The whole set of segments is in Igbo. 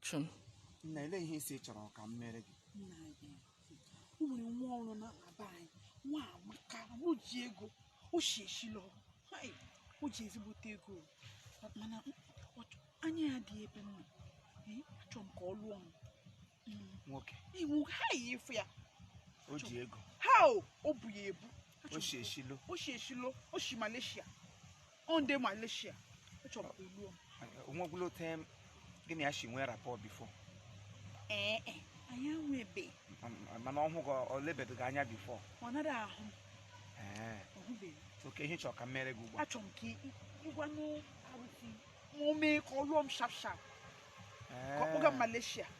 chụm nna ele ihe ị sị chọrọ ka m mere gị nna anyị o nwere nwa ọrụ na aba anyị nwa amaka o ji ego o shi Asia lọ Hai, o ji ezigbote ego mana ọ chọ- anya ya adịghị ebe m nọ Ee, achọ m ka ọ lụọ m Mm, nwoke iwu ha yi efu ya o ji ego how o bu ya ebu o shi Asia lọ o shi Asia lọ o shi Malaysia ọ ndị Malaysia achọ m ka ọ lụọ m o nwekwula time gị na ya shi nwee rapport before ee e, anyị enwebe mana ọ hụ gị ọ lebedị gị anya before ọ nara ahụ m, ee ọ hụbeghị okay ihe ị chọrọ ka m mere gị ugbu a achọrọ m ka ị- ị- ị gwa nụ arụsị ma o mee ka ọ lụọ m sharp sharp ka ọ kpọga m Ee. Malaysia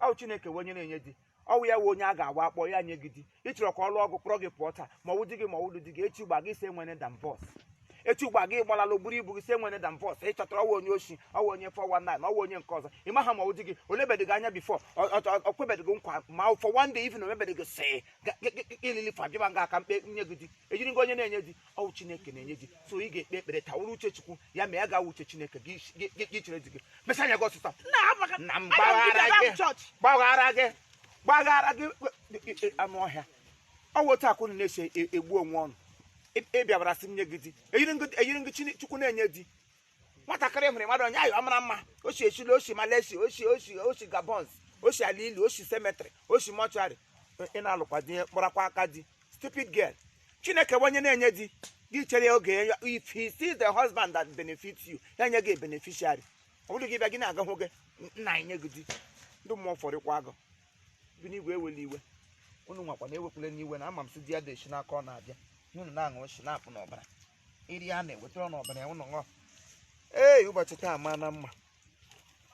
ọ chineke wụ onye na-enye di ọwụ ya wụ onye a ga-agwa akpọ ya nye gị di ị chọrọ ka ọ lụọ gị kpọrọ gị pụọ taa ma ọwụ di gị ma ọwụghị di gị echi gba gị sị e nwere divorce echi gba gị gbalala o buru ibu gị sị e nwere divorce ị chọtara ọwụ onye oshi ọwụ onye 419 ọwụ onye nke ọzọ ị maha ma ọwụ di gị o lebedị gị anya before o kwebedị gị nkwa ma for one day even o mebedị gị sị ilili fa bịaba ngaa ka m kpọnye gị di eyiri m gị onye na-enye di ọwụ chineke na-enye di so ị ga-ekpe ekpere taa wụrụ uche chukwu ya ma ya ga-awụ uche chineke gị gị- gị- gị chere di gị mesa anya gị ọsịsa nna amaka na m aga m gbaghara gị gị chọọchị gbaghara gị gbaghara gị e- e- e- anụ ọhịa ọ wụ otu ahụ unu na-esi e- egbu onwe unu Ị- ị bịabara sị m nye gị di eyiri m gị- eyiri m gị Chine- chukwu na-enye di nwatakịrị hụrụ mmadụ onye ayọ mara mma o shi Asia lọ o shi Malaysia o shi o shi o shi Gabon o shi ala ili o shi cemetery o shi mortuary ị na-alụkwa di kpọrakwa aka di stupid girl chineke bụ onye na-enye di gị chere ya oge ya if he sees the husband that benefits you ya nye gị beneficiary ọ bụrụ gị bịa gị na-aga hụ gị nna anyị nye gị di ndị mmụọ fọrịkwa agụ bi n'igwe ewele iwe unu nwakwa na ewepụla n'iwe na ama m si di ya dị esi n'aka ọ na-abịa unu na-aṅụ esi na-apụ n'ọbara iri a na-ewetara unu ọbara ya unu ṅụọ ee ụbọchị taa maa na mma